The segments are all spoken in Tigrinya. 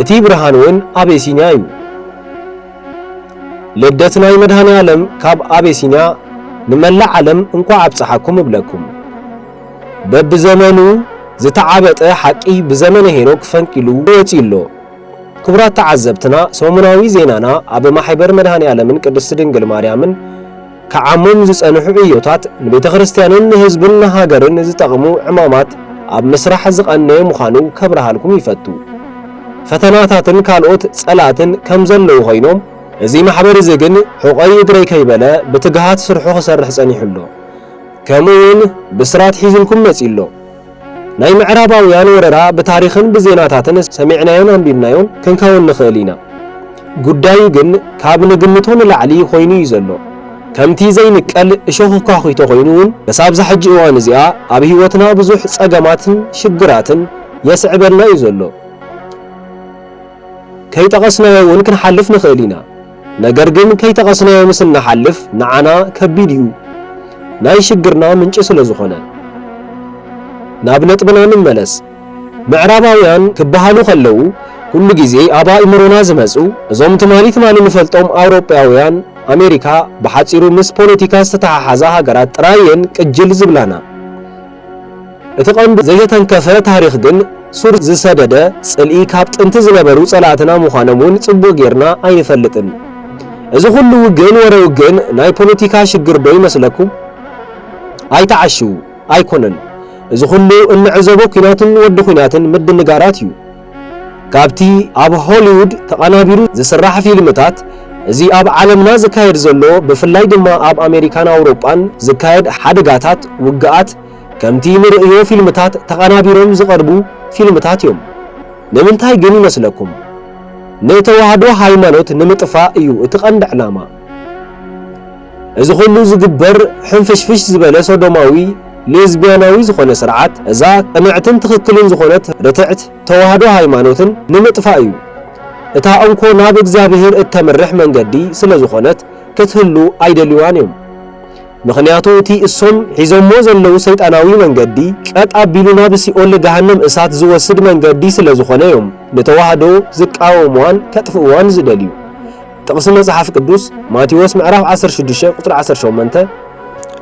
እቲ ብርሃን ውን ኣቤሲንያ እዩ። ልደት ናይ መድሃኒኣለም ካብ ኣቤሲንያ ንመላእ ዓለም እንኳዕ ኣብፀሓኩም እብለኩም። በብዘመኑ ዝተዓበጠ ሓቂ ብዘመነ ሄኖክ ፈንቂሉ ወፅዩ ኣሎ። ክቡራት ተዓዘብትና ሰሙናዊ ዜናና ኣብ ማሕበር መድሃኒኣለምን ቅድስት ድንግል ማርያምን፣ ክዓሞም ዝጸንሑ ዕዮታት ንቤተ ክርስቲያንን ንህዝብን ንሃገርን ዝጠቕሙ ዕማማት ኣብ ምስራሕ ዝቐነየ ምዃኑ ከብርሃልኩም ይፈቱ። ፈተናታትን ካልኦት ጸላእትን ከም ዘለዉ ኮይኖም እዚ ማሕበር እዚ ግን ሑቐይ እግረይ ከይበለ ብትግሃት ስርሑ ክሰርሕ ጸኒሑ ኣሎ። ከምኡ ውን ብስራት ሒዙልኩም መጺኡ ኣሎ። ናይ ምዕራባውያን ወረራ ብታሪኽን ብዜናታትን ሰሚዕናዮን ኣንቢብናዮን ክንከውን ንኽእል ኢና። ጉዳዩ ግን ካብ ንግምቶ ንላዕሊ ኮይኑ እዩ ዘሎ። ከምቲ ዘይንቀል እሾኽ ኳዂቶ ኮይኑ እውን ምስ ኣብዛ ሕጂ እዋን እዚኣ ኣብ ህይወትና ብዙሕ ጸገማትን ሽግራትን የስዕበልና እዩ ዘሎ። ከይጠቐስናዮ እውን ክንሓልፍ ንኽእል ኢና። ነገር ግን ከይተቐስናዮ ምስ እንሓልፍ ንዓና ከቢድ እዩ ናይ ሽግርና ምንጪ ስለ ዝኾነ። ናብ ነጥብና ንመለስ ምዕራባውያን ክበሃሉ ከለዉ ኩሉ ግዜ ኣብ ኣእምሮና ዝመጹ እዞም ትማሊ ትማሊ ንፈልጦም ኣውሮጳውያን ኣሜሪካ ብሓጺሩ ምስ ፖለቲካ ዝተተሓሓዛ ሃገራት ጥራይ እየን ቅጅል ዝብላና። እቲ ቀንዱ ዘይተተንከፈ ታሪኽ ግን ሱር ዝሰደደ ጽልኢ ካብ ጥንቲ ዝነበሩ ጸላእትና ምዃኖም ውን ጽቡቕ ጌርና ኣይንፈልጥን። እዚ ኩሉ ውግእን ወረ ውግእን ናይ ፖለቲካ ሽግር ዶ ይመስለኩም? ኣይትዓሽዉ። ኣይኮነን። እዚ ኩሉ እንዕዘቦ ኩናትን ወዲ ኩናትን ምድንጋራት ዩ። ካብቲ ኣብ ሆሊዉድ ተቓናቢሩ ዝስራሕ ፊልምታት፣ እዚ ኣብ ዓለምና ዝካየድ ዘሎ፣ ብፍላይ ድማ ኣብ ኣሜሪካን ኣውሮጳን ዝካየድ ሓደጋታት፣ ውግኣት፣ ከምቲ ንርእዮ ፊልምታት ተቓናቢሮም ዝቐርቡ ፊልምታት እዮም። ንምንታይ ግን ይመስለኩም? ንተዋህዶ ሃይማኖት ንምጥፋእ እዩ እቲ ቀንዲ ዕላማ። እዚ ኩሉ ዝግበር ሕንፍሽፍሽ ዝበለ ሶዶማዊ ሌዝቢያናዊ ዝኾነ ስርዓት እዛ ቅንዕትን ትኽክልን ዝኾነት ርትዕት ተዋህዶ ሃይማኖትን ንምጥፋእ እዩ። እታ እንኮ ናብ እግዚኣብሄር እተምርሕ መንገዲ ስለ ዝኾነት ክትህሉ ኣይደልዋን እዮም። ምኽንያቱ እቲ እሶም ሒዞሞ ዘለዉ ሰይጣናዊ መንገዲ ቀጥ ኣቢሉ ናብ ሲኦል ገሃነም እሳት ዝወስድ መንገዲ ስለ ዝኾነ እዮም ንተዋህዶ ዝቃወምዋን ከጥፍእዋን ዝደልዩ። ጥቕሲ መጽሓፍ ቅዱስ፣ ማቴዎስ ምዕራፍ ዓሰርተ ሽዱሽተ ቁጽሪ ዓሰርተ ሸሞንተ፣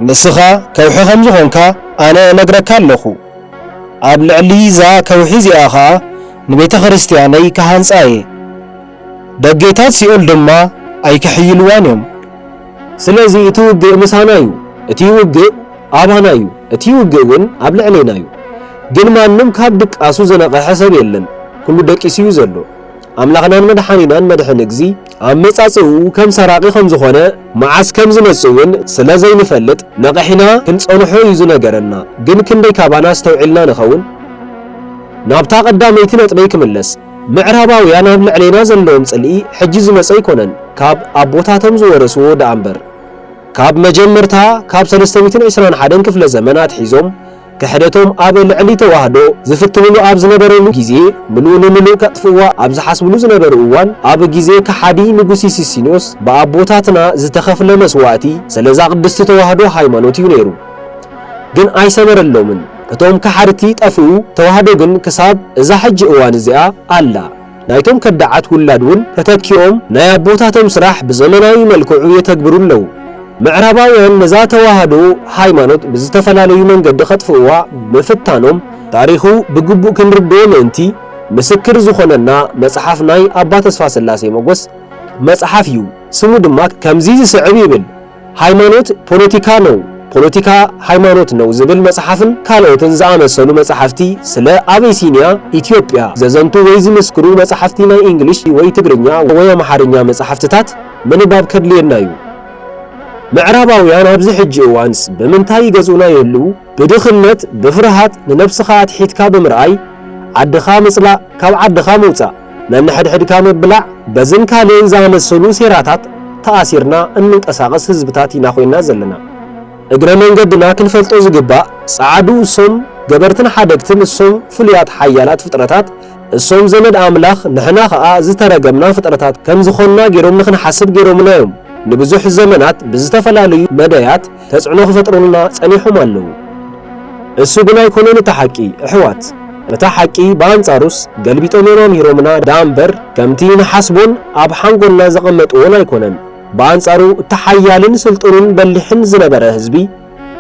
ንስኻ ከውሒ ኸም ዝዀንካ ኣነ እነግረካ ኣሎኹ፣ ኣብ ልዕሊ እዛ ከውሒ እዚኣ ኸኣ ንቤተ ክርስትያነይ ክሃንጻ እየ፣ ደጌታት ሲኦል ድማ ኣይኪሕይልዋን እዮም። ስለዚ፣ እቲ ውግእ ምሳና እዩ። እቲ ውግእ ኣባና እዩ። እቲ ውግእ ግን ኣብ ልዕሌና እዩ። ግን ማንም ካብ ድቃሱ ዝነቕሐ ሰብ የለን፣ ኵሉ ደቂሱ እዩ ዘሎ። ኣምላኽናን መድሓኒናን መድሕን እግዚ ኣመጻጽእኡ ከም ሰራቒ ከም ዝኾነ መዓስ ከም ዝመጽእ ውን ስለ ዘይንፈልጥ ነቒሕና ክንጸንሖ እዩ ዝነገረና ግን ክንደይ ካባና ኣስተውዒልና ንኸውን? ናብታ ቀዳመይቲ ነጥበይ ክምለስ ምዕራባውያን ኣብ ልዕሌና ዘለዎም ጽልኢ ሕጂ ዝመጸ ኣይኮነን ካብ ኣቦታቶም ዝወረስዎ ደኣ እምበር ካብ መጀመርታ ካብ ሰለስተ ሚእትን ዕስራን ሓደን ክፍለ ዘመን ኣትሒዞም ክሕደቶም ኣብ ልዕሊ ተዋህዶ ዝፍትንሉ ኣብ ዝነበርሉ ግዜ ምሉእ ንምሉእ ከጥፍእዋ ኣብ ዝሓስብሉ ዝነበሩ እዋን ኣብ ግዜ ከሓዲ ንጉሲ ሲሲንዮስ ብኣቦታትና ዝተኸፍለ መስዋእቲ ሰለዛ ቅድስቲ ተዋህዶ ሃይማኖት እዩ ነይሩ ግን ኣይሰመረሎምን እቶም ከሓድቲ ጠፍኡ ተዋህዶ ግን ክሳብ እዛ ሕጂ እዋን እዚኣ ኣላ። ናይቶም ከዳዓት ውላድ ውን ተተኪኦም ናይ ኣቦታቶም ስራሕ ብዘመናዊ መልክዑ የተግብሩ ኣለዉ። ምዕራባውያን ነዛ ተዋህዶ ሃይማኖት ብዝተፈላለዩ መንገዲ ከጥፍእዋ ምፍታኖም ታሪኹ ብግቡእ ክንርድኦ ምእንቲ ምስክር ዝኾነና መጽሓፍ ናይ ኣባ ተስፋስላሴ ሞጎስ መጽሓፍ እዩ። ስሙ ድማ ከምዚ ዝስዕብ ይብል። ሃይማኖት ፖለቲካ ነው፣ ፖለቲካ ሃይማኖት ነው ዝብል መጽሓፍን ካልኦትን ዝኣመሰሉ መጻሕፍቲ ስለ ኣበይሲንያ፣ ኢትዮጵያ፣ ዘዘንቱ ወይ ዝምስክሩ መጻሕፍቲ ናይ እንግሊሽ ወይ ትግርኛ ወይ ኣምሓርኛ መጻሕፍትታት ምንባብ ከድልየና እዩ። ምዕራባውያን ኣብዚ ሕጂ እዋንስ ብምንታይ ይገዝኡና ይህልዉ? ብድኽነት፣ ብፍርሃት፣ ንነብስኻ ኣትሒትካ ብምርኣይ፣ ዓድኻ ምጽላእ፣ ካብ ዓድኻ ምውጻእ። ነንሕድሕድካ ምብላዕ፣ በዝን ካልእን ዝኣመሰሉ ሴራታት ተኣሲርና እንንቀሳቐስ ህዝብታት ኢና ኮይና ዘለና። እግረ መንገድና ክንፈልጦ ዝግባእ፣ ጸዓዱ እሶም ገበርትን ሓደግትን እሶም ፍሉያት ሓያላት ፍጥረታት እሶም ዘመድ ኣምላኽ ንሕና ከኣ ዝተረገምና ፍጥረታት ከም ዝኾንና ጌሮም ንኽንሓስብ ጌሮምና እዮም። ንብዙሕ ዘመናት ብዝተፈላለዩ መደያት ተጽዕኖ ክፈጥሩልና ጸኒሖም ኣለዉ። እሱ ግን ኣይኮነን እቲ ሓቂ እሕዋት እታ ሓቂ ብኣንጻሩስ ገልቢጦም እዮም ኣምሂሮምና ደኣ እምበር ከምቲ ንሓስቦን ኣብ ሓንጎልና ዘቐመጥዎን ኣይኮነን ብኣንጻሩ እቲ ሓያልን ስልጡንን በሊሕን ዝነበረ ህዝቢ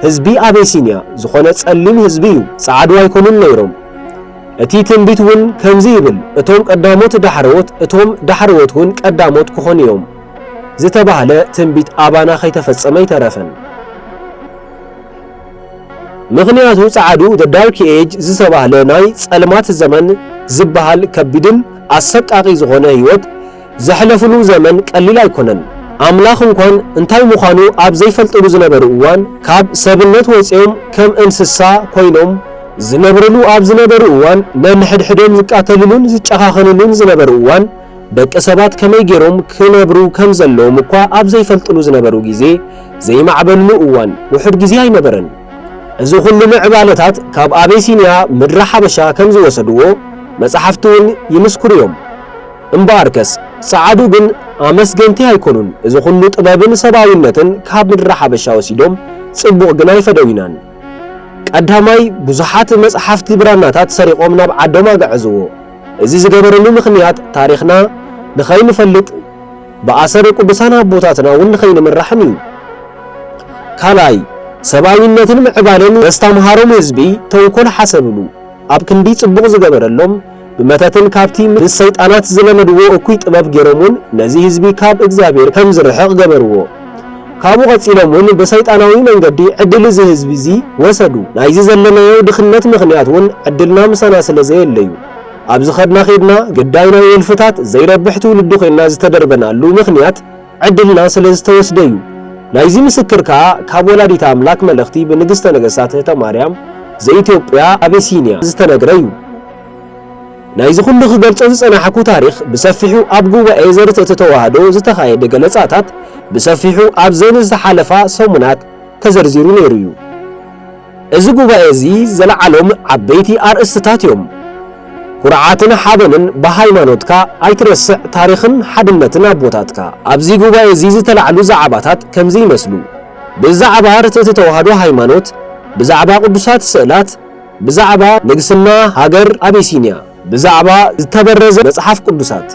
ህዝቢ ኣቤሲንያ ዝኾነ ጸሊም ህዝቢ እዩ ጻዓዱ ኣይኮኑን ነይሮም እቲ ትንቢት ውን ከምዚ ይብል እቶም ቀዳሞት ዳሕረዎት እቶም ዳሕረዎት ውን ቀዳሞት ክኾኑ እዮም። ዝተባህለ ትንቢት ኣባና ከይተፈጸመ ኣይተረፈን። ምኽንያቱ ጸዓዱ The Dark Age ዝተባህለ ናይ ጸልማት ዘመን ዝበሃል ከቢድን ኣሰቃቂ ዝኾነ ህይወት ዘሕለፍሉ ዘመን ቀሊል ኣይኮነን። ኣምላኽ እንኳን እንታይ ምዃኑ ኣብ ዘይፈልጥሉ ዝነበሩ እዋን ካብ ሰብነት ወጺኦም ከም እንስሳ ኮይኖም ዝነብርሉ ኣብ ዝነበሩ እዋን ነንሕድሕዶም ዝቃተልሉን ዝጨኻኸንሉን ዝነበሩ እዋን ደቂ ሰባት ከመይ ገይሮም ክነብሩ ከም ዘለዎም እኳ ኣብ ዘይፈልጥሉ ዝነበሩ ግዜ፣ ዘይማዕበልሉ እዋን ውሑድ ግዜ ኣይነበረን። እዚ ኹሉ ምዕባለታት ካብ ኣቤሲንያ ምድረ ሓበሻ ከም ዝወሰድዎ መጻሕፍቲ ውን ይምስክሩ ዮም። እምበኣርከስ ጸዓዱ ግን ኣመስገንቲ ኣይኮኑን እዚ ኹሉ ጥበብን ሰብኣዊነትን ካብ ምድረ ሓበሻ ወሲዶም ጽቡቕ ግን ኣይፈደዩናን። ቀዳማይ ብዙሓት መጽሓፍቲ ብራናታት ሰሪቖም ናብ ዓዶም ኣግዐዝዎ። እዚ ዝገበረሉ ምኽንያት ታሪኽና ንኸይንፈልጥ ብኣሰር ቅዱሳን ኣቦታትና እውን ንኸይንምራሕን እዩ። ካልኣይ ሰብኣዊነትን ምዕባለን ዘስታምሃሮም ህዝቢ ተንኮል ሓሰብሉ ኣብ ክንዲ ጽቡቕ ዝገበረሎም ብመተትን ካብቲ ምስ ሰይጣናት ዝለመድዎ እኩይ ጥበብ ጌሮም እውን ነዚ ህዝቢ ካብ እግዚኣብሔር ከም ዝርሕቕ ገበርዎ። ካብኡ ቀጺሎም ውን ብሰይጣናዊ መንገዲ ዕድል እዚ ህዝቢ እዚ ወሰዱ። ናይዚ ዘለናዮ ድኽነት ምኽንያት ውን ዕድልና ምሳና ስለ ዘየለዩ። ኣብ ዝኸድና ኬድና ግዳይ ናይ ወልፍታት ዘይረብሕ ትውልዲ ኮይና ዝተደርበናሉ ምኽንያት ዕድልና ስለ ዝተወስደ ዩ። ናይዚ ምስክር ከኣ ካብ ወላዲተ ኣምላክ መልእኽቲ ብንግስተ ነገስታት እህተ ማርያም ዘኢትዮጵያ ኣቤሲንያ ዝተነግረ ዩ። ናይዚ ኩሉ ክገልጾ ዝጸናሕኩ ታሪኽ ብሰፊሑ ኣብ ጉባኤ ዘርትዕቲ ተዋህዶ ዝተኻየደ ገለጻታት ብሰፊሑ ኣብዘን ዝተሓለፋ ሰሙናት ተዘርዚሩ ነይሩ እዩ። እዚ ጉባኤ እዚ ዘልዓሎም ዓበይቲ ኣርእስትታት እዮም። ኩርዓትን ሓበንን ብሃይማኖትካ ኣይትረስዕ ታሪኽን ሓድነትን ኣቦታትካ። ኣብዚ ጉባኤ እዚ ዝተላዕሉ ዛዕባታት ከምዚ ይመስሉ፣ ብዛዕባ ርትዕቲ ተዋህዶ ሃይማኖት፣ ብዛዕባ ቅዱሳት ስእላት፣ ብዛዕባ ንግስና ሃገር ኣቢሲንያ፣ ብዛዕባ ዝተበረዘ መጽሓፍ ቅዱሳት፣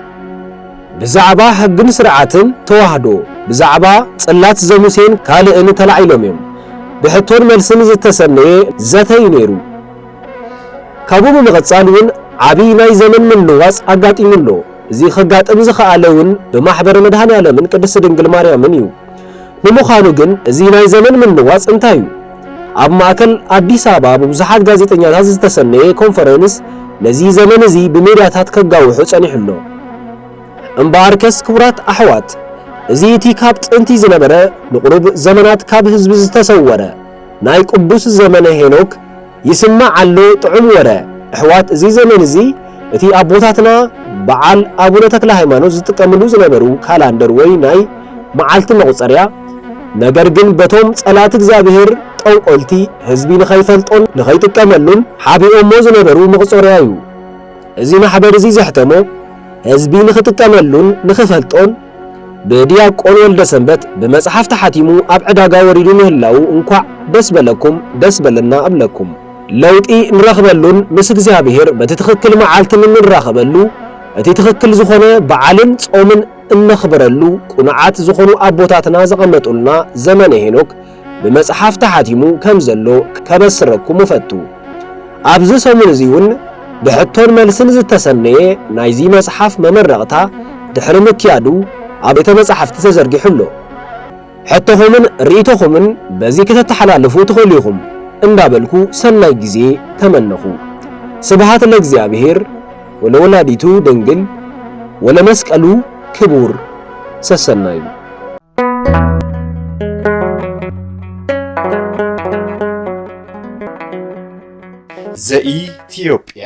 ብዛዕባ ሕግን ስርዓትን ተዋህዶ፣ ብዛዕባ ጽላት ዘሙሴን ካልእን ተላዒሎም እዮም። ብሕቶን መልስን ዝተሰነየ ዘተ እዩ ነይሩ። ካብኡ ብምቕጻል እውን ዓቢ ናይ ዘመን ምልዋጽ ኣጋጢሙ ኣሎ። እዚ ከጋጥም ዝኸኣለ እውን ብማሕበረ መድሃኔ ዓለምን ቅድስት ድንግል ማርያምን እዩ። ንምዃኑ ግን እዚ ናይ ዘመን ምልዋፅ እንታይ እዩ? ኣብ ማእከል ኣዲስ ኣበባ ብብዙሓት ጋዜጠኛታት ዝተሰነየ ኮንፈረንስ ነዚ ዘመን እዚ ብሜድያታት ከጋውሑ ፀኒሑ ኣሎ። እምበኣርከስ ክቡራት ኣሕዋት እዚ እቲ ካብ ጥንቲ ዝነበረ ንቑሩብ ዘመናት ካብ ህዝቢ ዝተሰወረ ናይ ቅዱስ ዘመነ ሄኖክ ይስማዕ ኣሎ ጥዑም ወረ እሕዋት እዚ ዘመን እዚ እቲ ኣቦታትና በዓል ኣቡነ ተክለ ሃይማኖት ዝጥቀምሉ ዝነበሩ ካላንደር ወይ ናይ መዓልቲ መቑጸርያ ነገር ግን በቶም ጸላእቲ እግዚኣብሔር ጠንቆልቲ ህዝቢ ንኸይፈልጦን ንኸይጥቀመሉን ሓቢኦሞ ዝነበሩ መቑጸርያ እዩ እዚ ማሕበር እዚ ዘሕተሞ ህዝቢ ንኽጥቀመሉን ንኽፈልጦን ብድያቆን ወልደሰንበት ብመጽሓፍ ተሓቲሙ ኣብ ዕዳጋ ወሪዱ ምህላዉ እንኳዕ ደስ በለኩም ደስ በለና እብለኩም። ለውጢ ንረኽበሉን ምስ እግዚኣብሔር በቲ ትኽክል መዓልቲ እንራኸበሉ እቲ ትኽክል ዝኾነ በዓልን ጾምን እነኽብረሉ ቅኑዓት ዝኾኑ ኣቦታትና ዘቐመጡልና ዘመነ ሄኖክ ብመጽሓፍ ተሓቲሙ ከም ዘሎ ከበስረኩም እፈቱ። ኣብዚ ሰሙን እዚ ውን ብሕቶን መልስን ዝተሰነየ ናይዚ መጽሓፍ መመረቕታ ድሕሪ ምክያዱ ኣብ ቤተ መጻሕፍቲ ተዘርጊሑ ኣሎ። ሕቶኹምን ርኢቶኹምን በዚ ከተተሓላልፉ ትኽእሉ ኢኹም እንዳበልኩ ሰናይ ግዜ ተመነኹ። ስብሃት ለእግዚኣብሔር ወለወላዲቱ ድንግል ወለመስቀሉ ክቡር ሰሰናዩ። ዘኢትዮጵያ